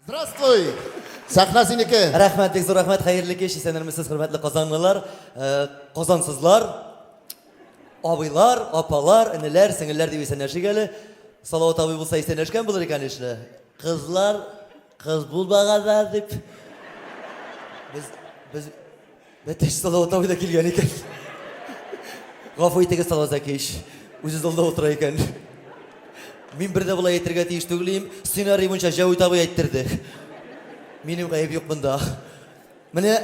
Здравствуй! Сәхнә синеке! Рәхмәт, бик зур рәхмәт, хәерле кич, исәнермесез, хөрмәтле казанлылар, э, казансызлар, абыйлар, апалар, энеләр, сеңелләр дип исәнләшик әле. Салават абый булса исәнләшкән булыр икән ишле. Кызлар, кыз булмаганда дип. Без, без, Бәтәш Салаватовой да килгән икән. Гафу итегез, Салазакич. Үзе залда утыра икән. Мин бер дә болай әйтергә тиеш түгел идем. Сценарий буенча Җәвит абый әйттерде. Минем гаеп юк монда. Менә,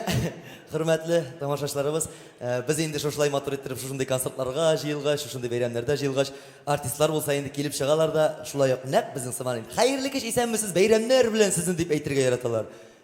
хөрмәтле тамашачыларыбыз, э, без инде шушылай матур иттереп, шушындый концертларга җыелгач, шушындый бәйрәмнәрдә җыелгач, артистлар булса инде килеп чыгалар да, шулай ук нәкъ безнең сыман инде. Хәерле кич, исәнмесез, бәйрәмнәр белән сезне дип әйтергә яраталар.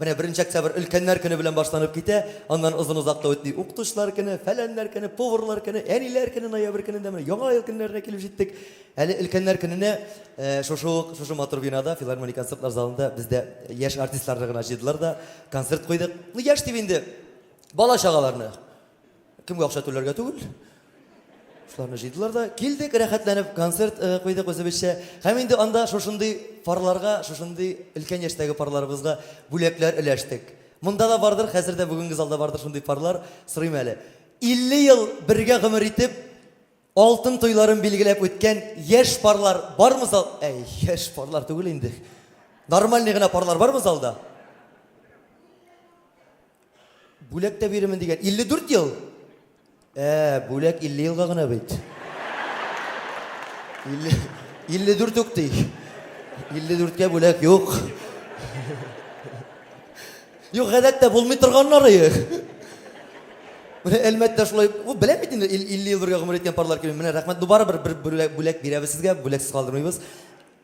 Менә беренче октябрь өлкәннәр көне белән башланып китә, аннан озын-озак та үтми, укытучылар көне, фәләннәр көне, поварлар көне, әниләр көне, ноябрь көнендә менә Яңа ел көннәренә килеп җиттек. Әле өлкәннәр көненә шушы ук, шушы матур бинада, филармония концертлар залында без дә яшь артистларны гына җыйдылар да, концерт куйдык. Ну, яшь дип инде, бала-чагаларны. Кемгә акча түләргә түгел. Шуларны җыйдылар да, килдек рәхәтләнеп, концерт э, куйдык үзебезчә. Һәм инде анда шушындый парларга, шушындый өлкән яшьтәге парларыбызга бүләкләр өләштек. Монда да бардыр, хәзер дә бүгенге залда бардыр шундый парлар, сорыйм әле. 50 ел бергә гомер итеп, Алтын туйларын билгеләп үткән яшь парлар бармы зал? Әй, яшь парлар түгел инде. Нормальный гына парлар бармы залда? Бүләк тә бирермен дигән. 54 ел. Ә, бүләк 50 елга гына бит. 50 54 үк ди. 54 кә бүләк юк. Юк, гадәттә булмый торганнары их. Менә Әлмәттә шулай, бу беләм бит инде 50 ел бергә гомер иткән парлар килми. Менә рәхмәт, бу барыбер бер бүләк, бүләк бирәбез сезгә, бүләксез калдырмыйбыз.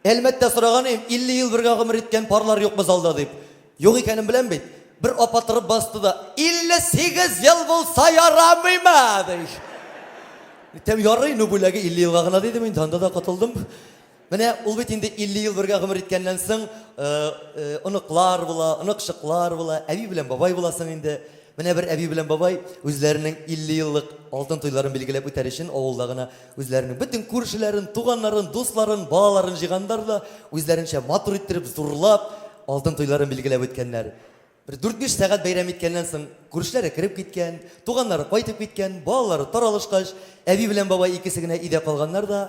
Әлмәттә сораган идем, 50 ел бергә гомер иткән парлар юкмы залда дип. Юк икәнен беләм бит. Бер апа торып басты да, 58 ел булса ярамыймы, ди. Тем ярый, ну бүләге 50 елга гына дидем инде, анда да котылдым. Менә ул бит инде 50 ел бергә гомер иткәннән соң, оныклар була, оныкчыклар була, әби белән бабай буласың инде. Менә бер әби белән бабай үзләренең 50 еллык алтын туйларын билгеләп үтәр өчен авылда гына үзләренең бөтен күршеләрен, туганнарын, дусларын, балаларын җыйганнар да үзләренчә матур иттереп, зурлап алтын туйларын билгеләп үткәннәр. Бер дүрт-биш сәгать бәйрәм иткәннән соң, күршеләре кереп киткән, туганнары кайтып киткән, балалары таралышкач, әби белән бабай икесе генә өйдә калганнар да,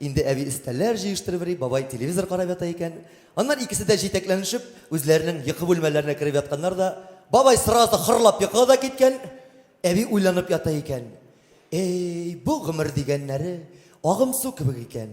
инде әби өстәлләр җыештырып йөри, бабай телевизор карап ята икән. Аннан икесе дә җитәкләнешеп, үзләренең йокы бүлмәләренә кереп ятканнар да, бабай сразу хырлап йокыга да киткән, әби уйланып ята икән. Әй, бу гомер дигәннәре агымсу кебек икән.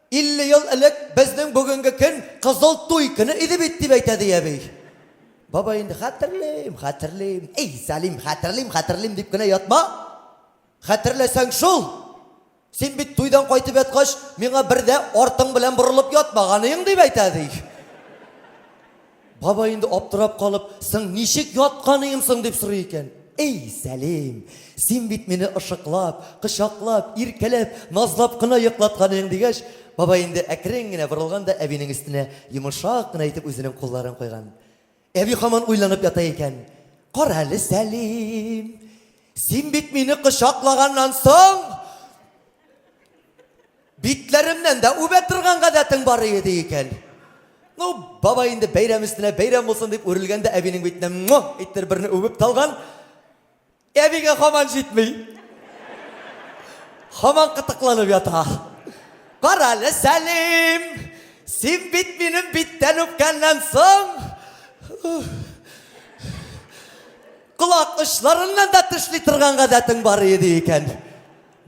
50 ел элек безнең бүгенге көн кызыл туй көне иде бит, дип әйтә, ди әби. Бабай инде хәтерлим, хәтерлим, эй, Сәлим, хәтерлим, хәтерлим дип кенә ятма. Хәтерләсәң шул. Син бит туйдан кайтып яткач, миңа бер дә артың белән борылып ятмаганың, дип әйтә, ди. Бабай инде аптырап калып, соң ничек ятканыйм соң дип сорый икән. Эй, Сәлим, син бит мине ышыклап, кочаклап, иркәләп, назлап кына йоклатканыйң, дигәч, бабай инде әкрен генә борылган да әбинең өстенә йомышак кына итеп үзенең кулларын куйган. Әби хаман уйланып ята икән. Кара әле, Сәлим, син бит мине кочаклаганнан соң, Битләремнән дә үбә торган гадәтең бар иде икән. Ну, бабай инде бәйрәм өстенә бәйрәм булсын дип үрелгәндә әбинең битенә муа иттер берне үбеп талган. Әбигә хаман җитми. Хаман кытыкланып ята. Кара әле, Сәлим! Син бит минем биттән үпкәннән соң колак очларыннан да тешли торган гадәтең бар иде икән.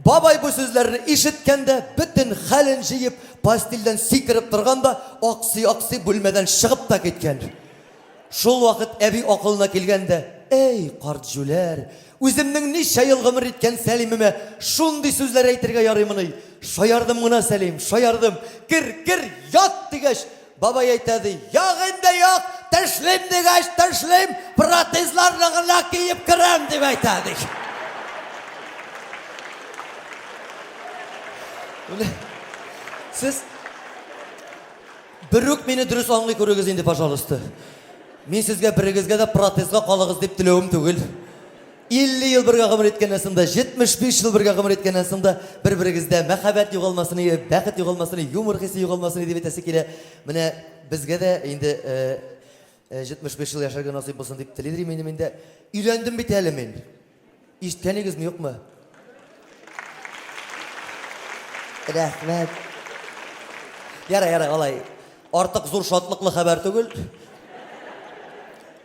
Бабай бу сүзләрне ишеткәндә, бөтен хәлен җыеп, постельдән сикереп торган да, аксый-аксый бүлмәдән чыгып та киткән. Шул вакыт әби акылына килгән дә, Әй, карт җүләр, үземнең ничә ел гомер иткән Сәлимемә шундый сүзләр әйтергә ярыймыни? Шаярдым гына, Сәлим, шаярдым. Кер, кер, ят! дигәч, Бабай әйтә ди, Як инде, як, тешлим дигәч тешлим, протезларны гына киеп керәм, дип әйтә, ди. Сез берүк мине дөрес аңлый күрегез инде, пожалуйста. Мин сезгә берегезгә дә протезга калыгыз дип теләвем түгел. 50 ел бергә гомер иткәннән соң да, 75 ел бергә гомер иткәннән соң да бер-берегездә мәхәббәт югалмасын, бәхет югалмасын, юмор хисе югалмасын дип әйтәсе килә. Менә безгә дә инде 75 ел яшәргә насыйп булсын дип телидер минем инде. Өйләндем бит әле мин. Ишеткәнегезме, юкмы? Рәхмәт. Ярай, ярай, алай. Артык зур шатлыклы хәбәр түгел.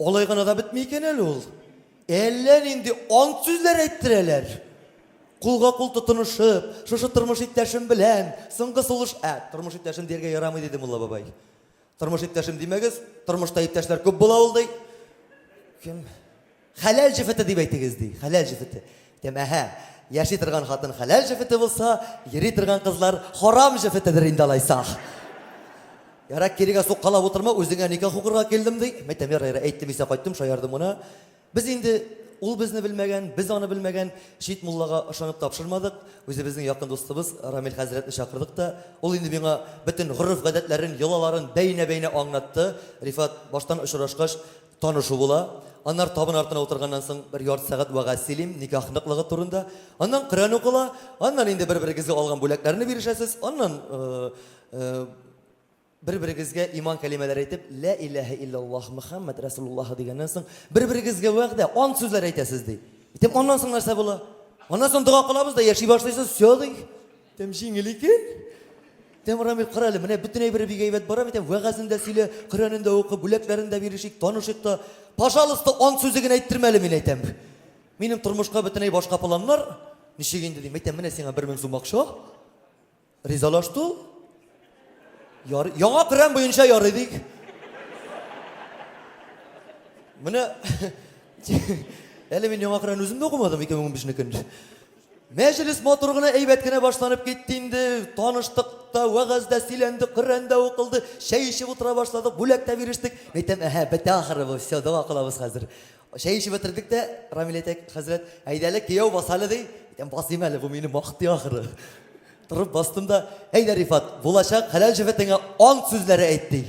Алай гына да бетми икән әле ул. Әллә нинди ант сүзләр әйттерәләр. Кулга кул тотынышып, шушы тормыш иптәшем белән соңгы сулыш, ә, тормыш иптәшем дияргә ярамый диде Мулла бабай. Тормыш иптәшем димәгез, тормышта иптәшләр күп була ул ди. Кем? Хәләл җефете дип әйтегез ди. Хәләл җефете. Тэмэһэ, яши торган хатын хәләл җефете булса, йөри торган кызлар харам җефетедер инде алайсах. Ярак кирегә суккалап утырма, үзеңә никах укырга килдем ди. Мәйтәм, ярай, ярай, әйттем исә кайттым, шаярдым гына. Без инде ул безне белмәгән, без аны белмәгән чит муллага ышанып тапшырмадык. Үзебезнең якын дустыбыз Рамил хәзрәтне чакырдык та, ул инде миңа бөтен гореф-гадәтләрен, йолаларын бәйнә-бәйнә аңлатты. Рифат, баштан очрашкач, Танышу була. Аннары табын артына утырганнан соң бер ярты сәгать вәгазь сөйлим, никах ныклыгы турында. Аннан Коръән укыла, аннан инде бер-берегезгә алган бүләкләрне бирешәсез, аннан э, э, бер-берегезгә иман кәлимәләре әйтеп, лә иләһә иллаллаһ Мөхәммәд Расулуллаһ дигәннән соң, бер-берегезгә вәгъдә, ант сүзләр әйтәсез ди. Итеп аннан соң нәрсә була? Аннан соң дога кылабыз да яши башлыйсыз, все ди. Тем җиңел икән. Тем Рамил, кара әле, менә бөтен әйбере бик әйбәт бара бит, тем вәгазен дә сөйлә, Коръәнен дә укы, бүләкләрен дә бирешик, танышыйк та. Пожалуйста, ант сүзе генә әйттермә әле, мин әйтәм. Минем тормышка бөтенләй башка планнар. Ничек инде дим, әйтәм, менә сиңа бер мең сум акча. Ризалаш ту. Ярый, яңа Коръән буенча ярый дик. Менә әле мин яңа Коръән үзем дә укымадым 2015 некен. Мәҗлес матур гына, әйбәт кенә башланып китте инде. Таныштык та, вәгазь дә сөйләнде, Коръән дә укылды, чәй эчеп утыра башладык, бүләк тә бирештек. Мин әйтәм, әһә, бетә ахры бу, все, дога кылабыз хәзер. Чәй эчеп бетердек тә, Рамил әйтә, хәзрәт, әйдә әле, кияү бас әле, ди. Әйтәм, басыйм әле, бу мине мактый ахры. Торып бастым да, әйдә, Рифат, булачак хәләл җефетеңә ант сүзләре әйт, ди.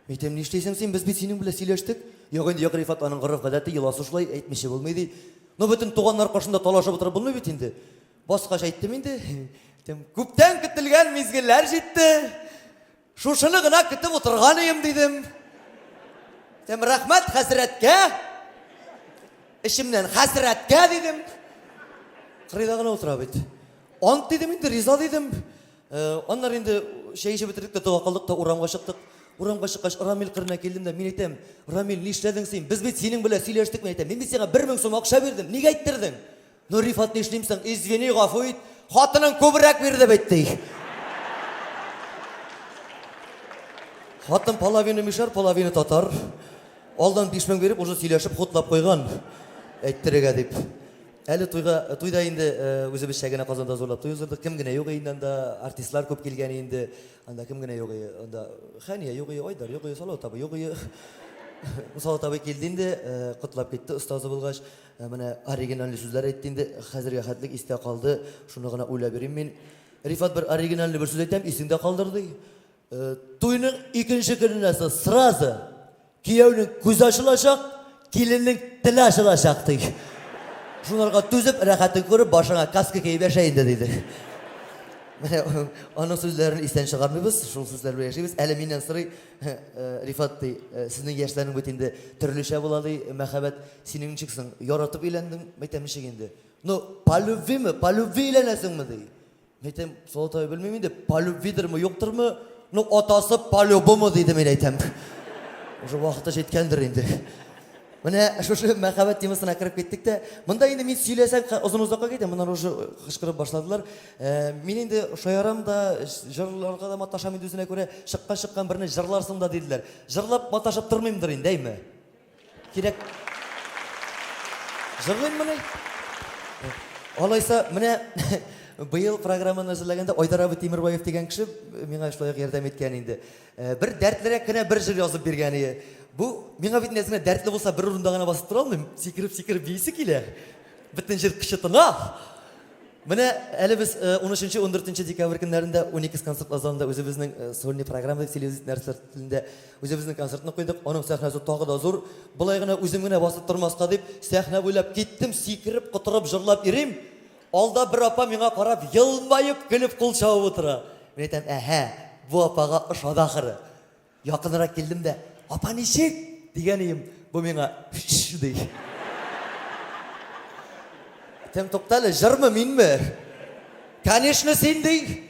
Әйтәм, нишлисең син, без бит синең белән сөйләштек. Юк инде, юк, Рифат, аның гореф-гадәте, йоласы шулай, әйтмичә булмый, ди. Ну, бөтен туганнар каршында талашып утырып булмый бит инде. Баскач әйттем инде. Әйтәм, күптән көтелгән мизгелләр җитте. Шушыны гына көтеп утырган идем, дидем. Әйтәм, рәхмәт хәзрәткә. Эчемнән хәзрәткә, дидем. Кырыйда гына утыра бит. Ант, дидем инде, риза, дидем. Аннары инде чәй эчеп бетердек тә, тога калдык та, урамга чыктык. Урамга чыккач, Рамил кырына килдем дә, мин әйтәм, Рамил, нишләдең син? Без бит синең белән сөйләштек, мин әйтәм. Мин бит сиңа бер мең сум акча бирдем, ник әйттердең? Ну, Рифат, нишлим соң? Извини, гафу ит. Хатының күбрәк бир дип әйтте. Хатын половина мишәр, половина татар. Алдан биш мең биреп, уже сөйләшеп, хутлап куйган. Әйттерергә дип. Әле туйга, туйда инде үзебезчә генә Казанда зурлап туй уздырдык. Кем генә юк инде анда, артистлар күп килгән инде. Анда кем генә юк и, анда Хәния юк и, Айдар юк и, Салават абый юк и. Салават абый килде инде, котлап китте остазы булгач. Менә оригинальный сүзләр әйтте инде. Хәзергә хәтлек истә калды. Шуны гына уйлап йөрим мин. Рифат бер оригинальный бер сүз әйтәм, исеңдә калдыр, ди. Туйның икенче көненә сез сразу кияүнең күзе ачылачак, киленнең теле ачылачак ди. Шунарга түзеп, рәхәтен күреп, башыңа каска киеп яшә инде дидек. Менә аның сүзләрен истән чыгармыйбыз, шул сүзләр белән яшибез. Әле миннән сорый, э, Рифат ди, э, сезнең яшьләрнең бит инде төрлечә була ди, мәхәббәт. Синең ничек соң? Яратып өйләндең? Мәйтәм ничек инде? Ну, по любви мы, по любви өйләнәсеңме ди? Мин әйтәм, Солотай белмим инде, полюбвидермы, юктырмы? Ну, атасы полюбому диде мин әйтәм. Уже вакыты җиткәндер инде. Менә шушы мәхәббәт темасына кереп киттек тә. Монда инде мин сөйләсәм озын озакка китә, моннан уже кычкырып башладылар. Э, мин инде шаярам да, җырларга да маташам инде үзенә күрә, чыккан чыккан берне җырларсың да диделәр. Җырлап маташып тормыймдыр инде, әйме? Кирәк. Җырлыйммы ни? Алайса, менә быел программаны әзерләгәндә Айдар абый Тимербаев дигән кеше миңа шулай ук ярдәм иткән инде. Э, бер дәртлерәк кенә бер җыр язып биргән иде. Бу миңа бит нәзмә дәртле булса бер урында гына басып тора алмыйм. Сикереп, сикереп биисе килә. Бөтен җыр кычытына. Менә әле без 13-14 э, декабрь көннәрендә Уникс концерт залында үзебезнең э, сольный программа дип сөйлибез, нәрсә телендә Үзебезнең концертны куйдык, аның сәхнәсе тагы да зур. Болай гына үзем генә басып тормаска дип, сәхнә буйлап киттем, сикереп, котырып җырлап йөрим. Алда бер апа миңа карап, елмаеп, көлеп кул чабып утыра. Мин әйтәм, әһә, бу апага ошады ахыры. Якынрак килдем дә, Апа, ничек? дигән ием, бу миңа, Шш! ди. Әйтәм, Туктале, җырмы, минме? Конечно, син, ди.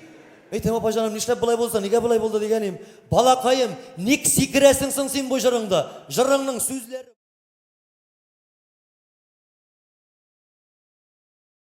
Әйтәм, апаҗаным, нишләп болай булды, нигә болай булды дигәнем. Балакаем, ник сикерәсең соң син бу җырыңда? Җырыңның сүзләре